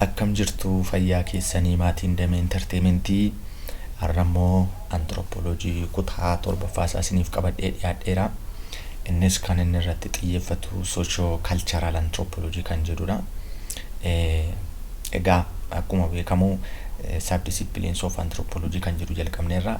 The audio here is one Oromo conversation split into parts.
Akkam jirtu fayyaa keessanii maatiin Damee Enterteementii har'a immoo Anthropology kutaa torbaffaa isaa isiniif qabadhee dhiyaadheera. Innis kan inni irratti xiyyeeffatu socio cultural anthropology kan jedhudha. Egaa akkuma beekamu subdisciplines of anthropology kan jedhu jalqabneerra.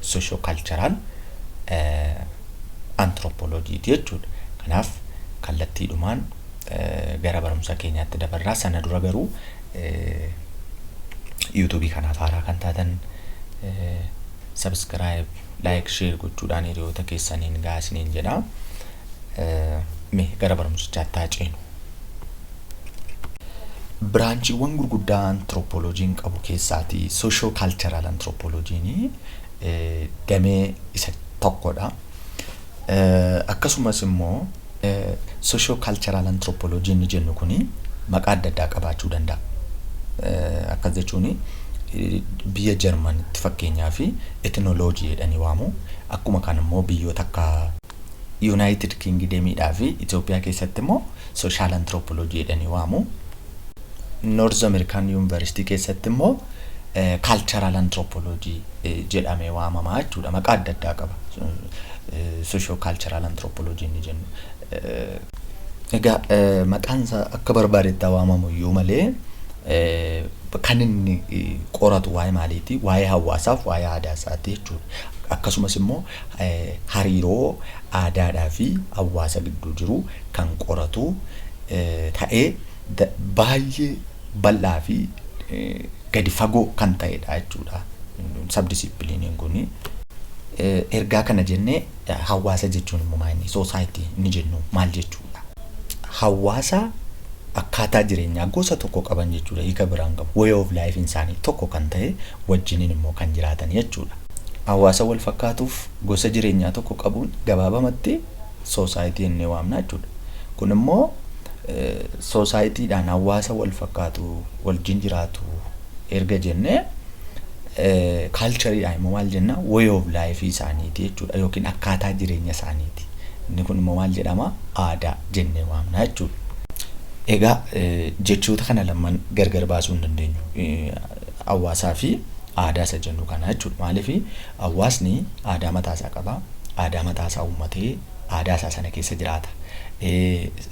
soshookalcharaal antirooppooloojiiti jechuudha. Kanaaf kallattiidhumaan gara barumsa keenyaatti dabarraa sana dura garuu yuutuubii kanaaf haaraa kan taatan sabiskiraayib laayik sheer gochuudhaan hiriyoota keessaniin gahaa isiniin jedha. Mee gara barumsichaatti haa ceenu. Biraanchiiwwan gurguddaa antirooppooloojiin qabu keessaati soshoo kaalcharaal antirooppooloojiin damee isa tokkodha. Akkasumas immoo soshoo kaalcharaal antirooppooloojiin ni jennu kuni maqaa adda addaa qabaachuu danda'a. Akkas jechuun biyya Jarmanitti fakkeenyaa fi etinooloojii jedhanii waamu. Akkuma kan immoo biyyoota akka Yunaayitid Kingidemiidhaa fi Itoophiyaa keessatti immoo Sooshaal Antiroopoloojii jedhanii waamu. Noorz Ameerikaan Yuunivarsiitii keessatti immoo Kaalcharaal Antiroopoloojii jedhamee waamama jechuudha. Maqaa adda addaa qaba. Soshoo Kaalcharaal Antiroopoloojii inni jennu. Egaa maqaan isaa akka barbaadetti haa waamamu iyyuu malee kan inni qoratu waa'ee maaliiti? Waa'ee hawaasaaf waa'ee aadaa isaati jechuudha. Akkasumas immoo hariiroo aadaadhaa fi hawaasa gidduu jiru kan qoratu ta'ee baay'ee bal'aa fi gadi fagoo kan ta'edha jechuudha sabdisiipiliiniin kun. Ergaa kana jennee hawaasa jechuun immoo maal inni soosaayitii inni jennu maal jechuudha? Hawaasa akkaataa jireenyaa gosa tokko qaban jechuudha hiika biraan qabu way of life isaanii tokko kan ta'e wajjiniin immoo kan jiraatan jechuudha. hawaasa wal fakkaatuuf gosa jireenyaa tokko qabuun gabaabamatti soosaayitii jennee waamna jechuudha. Kun immoo soosaayitiidhaan hawaasa wal fakkaatu wajjin jiraatu erga jennee kaalchariidhaan immoo maal jenna way of life isaaniiti jechuudha yookiin akkaataa jireenya isaaniiti. Inni kun immoo maal jedhama aadaa jennee waamna jechuudha. Egaa jechoota kana lamaan gargar baasuu hin dandeenyu. hawaasaa fi aadaa isa jennu kana jechuudha. Maaliif hawaasni aadaa mataa isaa qaba. Aadaa mataa isaa uummatee aadaa isaa sana keessa jiraata.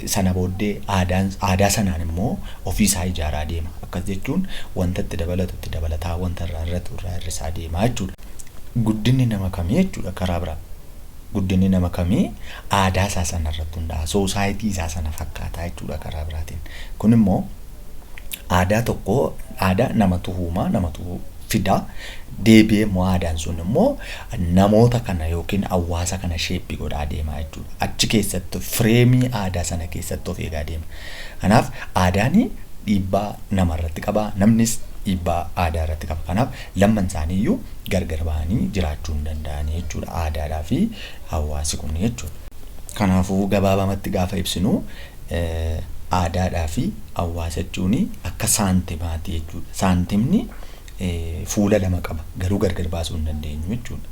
Sana booddee aadaa sanaan immoo ofii isaa ijaaraa deema. Akkas jechuun wanta itti dabalatu itti dabalataa wanta irraa hir'atu irraa hir'isaa deema jechuudha. Guddinni nama kamii jechuudha karaa biraa. Guddinni nama kamii aadaa isaa sana irratti hundaa'a. Soosaayitii isaa sana fakkaataa jechuudha karaa biraatiin. Kun immoo aadaa tokko aadaa namatu uumaa namatu fidaa deebi'ee immoo aadaan sun immoo namoota kana yookiin hawaasa kana sheeppii godhaa deemaa jechuudha. Achi keessatti fireemii aadaa sana keessatti of eegaa deema. Kanaaf aadaan dhiibbaa nama irratti qaba namnis dhiibbaa aadaa irratti qaba. Kanaaf lamman isaanii iyyuu gargar bahanii jiraachuu hin danda'anii jechuudha aadaadhaa fi hawaasi kun jechuudha. Kanaafuu gabaabamatti gaafa ibsinu Aadaadhaa fi hawaasa jechuun akka saantimaati jechuudha. Saantimni fuula lama qaba garuu gargar baasuu hin dandeenyu jechuudha.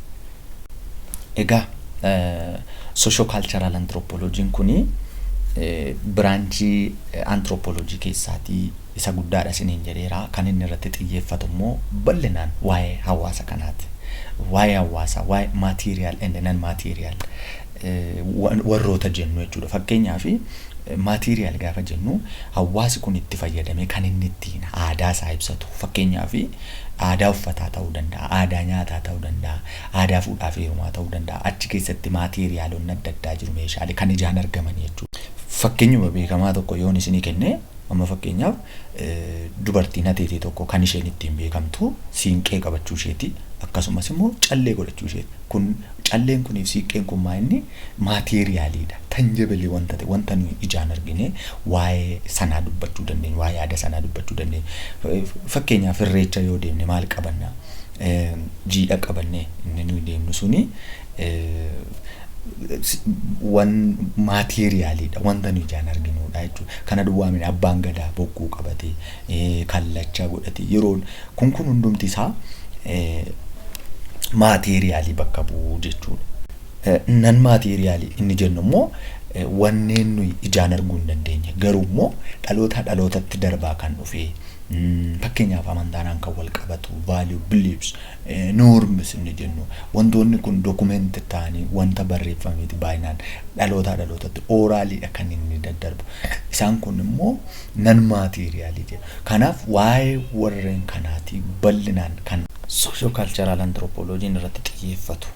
Egaa soshoo kaalcharaal antirooppooloojiin kun biraanchii antirooppooloojii keessaatii isa guddaadha isiniin jedheera. Kan inni irratti xiyyeeffatu immoo bal'inaan waa'ee hawaasa kanaati. Waa'ee hawaasaa, waa'ee material and non material warroota jennu jechuudha. Fakkeenyaaf material gaafa jennu hawaasi kun itti fayyadamee kan inni ittiin aadaa isaa ibsatu. Fakkeenyaaf aadaa uffataa ta'uu danda'a, aadaa nyaataa ta'uu danda'a, aadaa fuudhaa fi heerumaa ta'uu danda'a. Achi keessatti materialonni adda addaa jiru meeshaalee kan ijaan argaman jechuudha. Fakkeenyuma beekamaa tokko yoon isinii kenne Amma fakkeenyaaf dubartiin hateetee tokko kan isheen ittiin beekamtu siinqee qabachuu isheeti. Akkasumas immoo callee godhachuu isheeti. Kun calleen kunii fi siiqqeen kun maa inni maateeriyaaliidha. Tanjabilii wanta ta'e wanta nuyi ijaan argine waa'ee sanaa dubbachuu dandeenya. Waa'ee aadaa sanaa dubbachuu dandeenya. Fakkeenyaaf irreecha yoo deemne maal qabanna? Jiidha qabanne inni nuyi deemnu suni wan material dha wanta nu ijaan arginu dha jechuudha. Kana duwwaa miti abbaan gadaa bokkuu qabatee, kallacha godhatee yeroon kun kun hundumti isaa material bakka bu'u jechuudha. Non material inni jennu immoo wanneen nuyi ijaan arguu hin dandeenye garuu immoo dhalootaa dhalootatti darbaa kan dhufee fakkeenyaaf amantaadhaan kan wal qabatu value, beliefs, Norms inni jennu wantoonni kun document ta'anii wanta barreeffameeti baay'inaan dhalootaa dhalootatti orally dha kan inni daddarbu. Isaan kun immoo non material jedha. Kanaaf waa'ee warreen kanaati bal'inaan kan socio-cultural anthropology irratti xiyyeeffatu.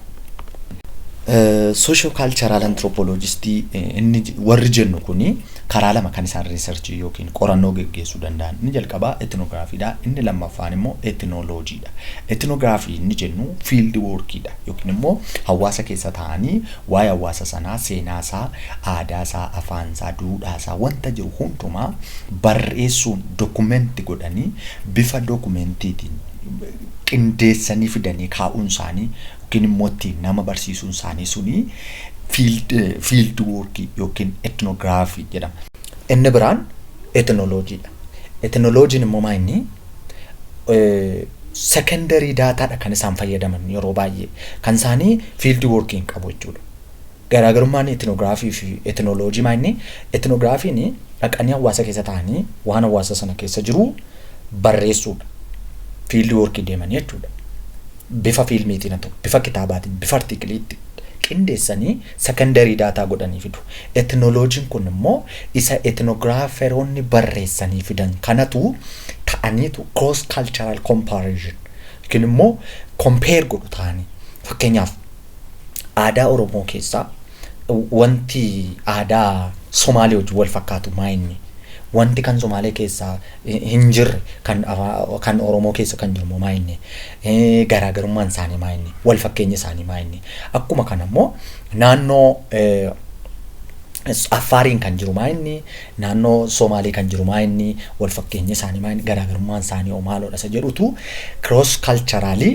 Socio-cultural anthropologist inni warri jennu kuni karaa lama kan isaan research yookiin qorannoo geggeessuu danda'an. Inni jalqabaa ethnography dha, inni lammaffaan immoo ethnology dha. Ethnography inni jennu field work dha yookiin immoo hawaasa keessa taa'anii waa'ee hawaasa sanaa, seenaa isaa, aadaa isaa, afaan isaa, duudhaa isaa wanta jiru hundumaa barreessuun document godhanii bifa documentiitiin qindeessanii fidanii kaa'uun isaanii yookiin immoo itti nama barsiisuun isaanii suni fiild fiild woorkii yookiin etnograafii jedhama. Inni biraan etnoloojiidha. Etnoloojiin immoo maa inni sekondarii daataadha kan isaan fayyadaman yeroo baay'ee kan isaanii fiild woorkii hin qabu jechuudha. Garaagarummaan etinograafii fi etinoloojii maa inni? Etinograafiin dhaqanii hawaasa keessa taa'anii waan hawaasa sana keessa jiru barreessuudha. Fiildi woorkii deemanii jechuudha. Bifa fiilmiitiin haa ta'u, bifa kitaabaatiin, bifa artiikiliitti qindeessanii sekondarii daataa godhanii fidu. Etinoloojiin kun immoo isa etinograaferoonni barreessanii fidan kanatu ta'aniitu cross cultural comparison yookiin immoo compare godhu ta'anii. Fakkeenyaaf. aadaa Oromoo keessaa wanti aadaa Somaalee wajjin wal fakkaatu maa inni? Wanti kan Somaalee keessa hin jirre kan, kan Oromoo keessa kan jiru maa inni? Garaagarummaan isaanii maa inni? Wal fakkeenyi isaanii maa inni? Akkuma kana immoo naannoo Affaariin kan jiru maa inni? Naannoo Somaalee kan jiru maa inni? Wal fakkeenyi isaanii maa inni? Garaagarummaan isaanii hoo maaloo dha? Isa jedhutu cross culturally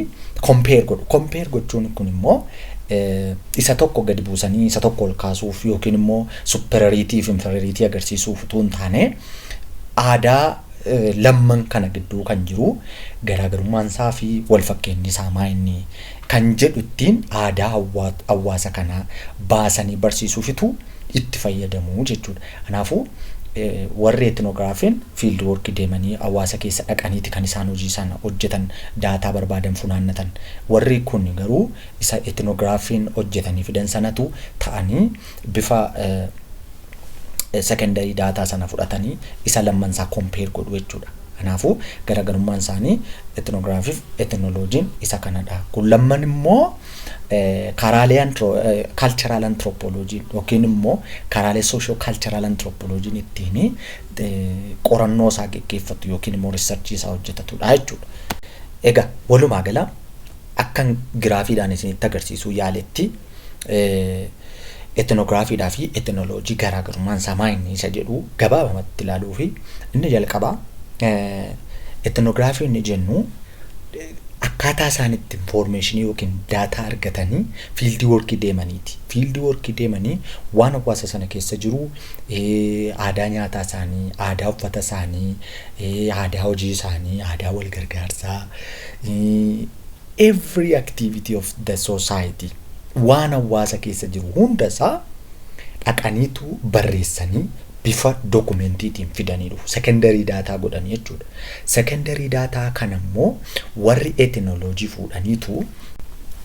compare godhu. Compare gochuun kun immoo isa tokko gadi buusanii isa tokko ol kaasuuf yookiin immoo superiority fi inferiority agarsiisuuf utuu hin taane aadaa lamman kana gidduu kan jiru garaagarummaan isaa fi wal fakkeenyi isaa maa inni kan jedhu ittiin aadaa hawaasa kanaa baasanii barsiisuufitu itti fayyadamu jechuudha. Kanaafuu warri etnograafiin fiild work deemanii hawaasa keessa dhaqaniiti kan isaan hojii sana hojjetan daataa barbaadan funaannatan. Warri kun garuu isa etnograafiin hojjetanii fidan sanatu ta'anii bifa secondary daataa sana fudhatanii isa lamman isaa compare godhu jechuudha. Kanaafuu garaagarummaan isaanii etnograafiif etnoloojiin isa kanadha. Kun lamman immoo karaalee cultural anthropology yookiin immoo karaalee socio cultural anthropology ittiin qorannoo isaa geggeeffatu yookiin immoo research isaa hojjetatudha jechuudha. Egaa walumaa gala akkan giraafiidhaan isinitti agarsiisuu yaaletti etnograafiidhaa fi etnoloojii garaagarummaan isaa maa inni isa jedhu gabaabamatti ilaaluu fi inni jalqabaa etnograafiin jennu akkaataa isaan itti infoormeeshinii yookiin daataa argatanii fiildii workii deemaniiti. Fiildii workii deemanii waan hawaasa sana keessa jiru eh, aadaa nyaataa isaanii, aadaa uffata isaanii, eh, aadaa hojii isaanii, aadaa wal gargaarsaa, eh, every activity of the society waan hawaasa keessa jiru hunda isaa dhaqaniitu barreessanii bifa dokumentiitiin fidanii dhufu. Secondary data godhanii jechuudha. Secondary data kana immoo warri ethnology fuudhaniitu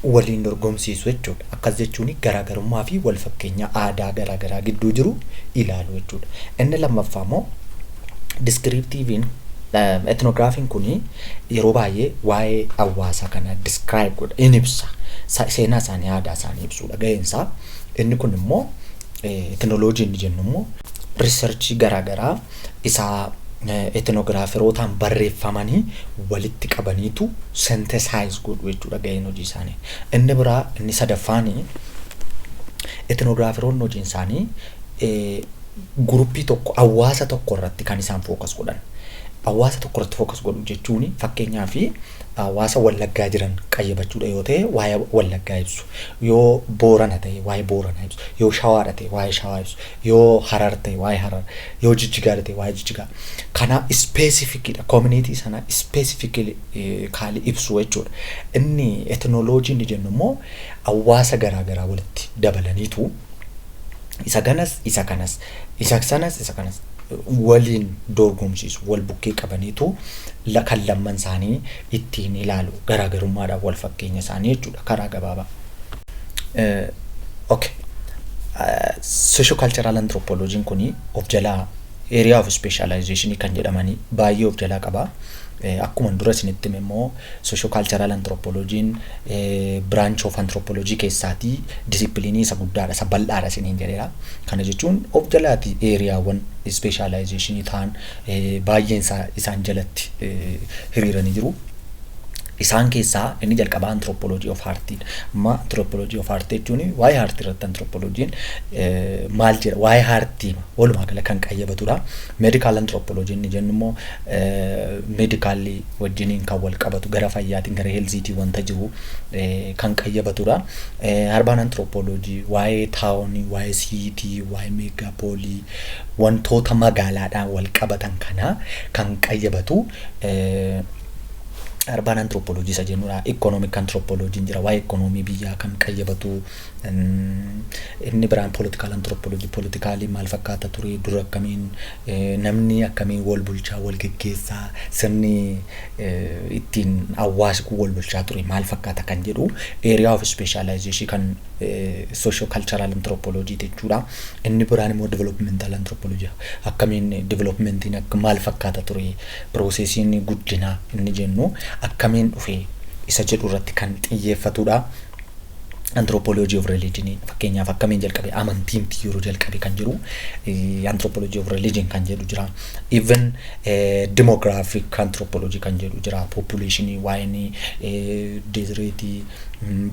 waliin dorgomsiisu jechuudha. Akkas jechuun garaagarummaa fi wal fakkeenya aadaa garaagaraa gidduu jiru ilaalu jechuudha. Inni lammaffaa immoo descriptive'n ethnographiin kun yeroo baay'ee waa'ee hawaasa kanaa describe godha in ibsa. Sa- Seenaa isaanii aadaa isaanii ibsuudha ga'een isaa. Inni kun immoo Etinoloojii inni jennu immoo riisarchii garaagaraa isaa etinogiraaferootaan barreeffamanii walitti qabaniitu sentesaayiz godhu jechuudha gaheen hojii isaanii. Inni biraa inni sadaffaan etinogiraaferoonni hojiin isaanii guruppii tokko hawaasa tokko irratti kan isaan fookas godhan. Hawaasa tokko irratti fookas godhu jechuun fakkeenyaaf hawaasa Wallaggaa jiran qayyabachuudha yoo ta'e waa'ee Wallaggaa ibsu, yoo Boorana ta'e waa'ee Booranaa ibsu, yoo Shawaadha ta'e waa'ee Shawaa ibsu, yoo Harar ta'e waa'ee Harar, yoo Jijjigaadha ta'e waa'ee Jijjigaa. Kana ispeesifikiidha. Koominiitii sana ispeesifikaalii ibsu jechuudha. Inni etinooloojii inni jennu immoo hawaasa garaa garaa walitti dabalaniitu isa ganas isa kanas Isa sanas isa kanas waliin doorgomsiisu. Wal bukkee qabaniitu la- kan lamman isaanii ittiin ilaalu. Garaagarummaadhaan wal fakkeenya isaanii jechuudha karaa gabaabaa. Eh, okay. Socio-cultural anthropology kuni of jalaa area of specialization kan jedhamanii baay'ee of jalaa qaba. Akkuman dura isinitti hime immoo Socio-Cultural Anthropology'n branch of anthropology keessaatii discipline isa guddaadha, isa bal'aadha isiniin jedheera. Kana jechuun of jalaati eeriyaawwan specialization ta'an baay'een isaa isaan jalatti hiriiranii jiru. Isaan keessaa inni jalqabaa anthropology of art'dha. Amma anthropology of art jechuun waa'ee art irratti anthropology'n maal jedha waa'ee art'ima walumaa gala kan qayyabatudha. Medical anthropology inni jennu immoo Medically wajjiniin kan wal qabatu gara fayyaatiin gara healthiitiin wanta jiru kan qayyabatudha. Urban anthropology waa'ee town, waa'ee city, waa'ee megapoly wantoota magaalaadhaan wal qabatan kana kan qayyabatu urban anthropology isa jennudha. Economic anthropology jira waa'ee economy biyyaa kan qayyabatu. Inni biraan political anthropology politikaalii maal fakkaata ture dura akkamiin Namni akkamiin wal bulchaa, wal geggeessaa, sirni ittiin hawaasi kun wal bulchaa ture maal fakkaata kan jedhu area of specialization kan socio cultural anthropology jechuudha. Inni biraan immoo developmental anthropology akkamiin developmentiin akka maal fakkaata ture piroosesiin guddinaa inni jennu akkamiin dhufe isa jedhu irratti kan xiyyeeffatudha. anthropology of religion fakkeenyaaf akkamiin jalqabe amantii miti yeroo jalqabe kan jiru anthropology of religion kan jedhu jira even demographic anthropology kan jedhu jira population waa'een dezireetii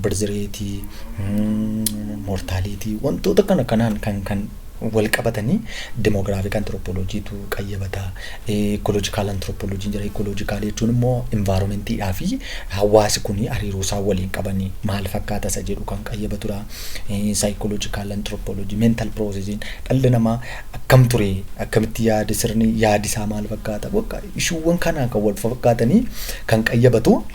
birzireetii mortaaliitii wantoota kana kanaan kan kan walqabatanii Demographic Anthropology tu qayyabata, Ecological Anthropology jira, Ecological jechuun immoo environment dhaa fi hawaasi kuni hariiroo isaan waliin qaban maal fakkaata isa jedhu kan qayyabatu dha. Psychological Anthropology, Mental Process in dhalli namaa akkam ture, akkamitti yaada sirni yaadi isaa maal fakkaata, bakka issue'wwan kanaan kan walfakkaatanii kan qayyabatu.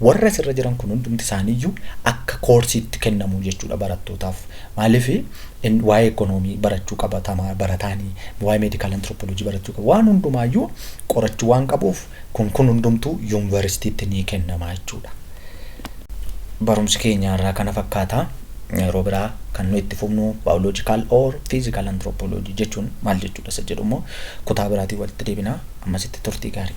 Warri asirra jiran kun hundumti isaaniiyyuu akka koorsiitti kennamu jechuudha barattootaaf. Maaliif in- waa'ee ekonoomii barachuu qaba tama- barataanii, waa'ee meedikaal antiroopoloojii barachuu qaba. Waan hundumaayyuu qorachuu waan qabuuf kun kun hundumtuu yuunivarsiitiitti ni kennama jechuudha. Barumsi keenya har'aa kana fakkaata. Yeroo biraa kan nu itti fufnu biological or physical anthropology jechuun maal jechuudha isa jedhu immoo kutaa biraatiin walitti deebina. Ammasitti turtii gaarii.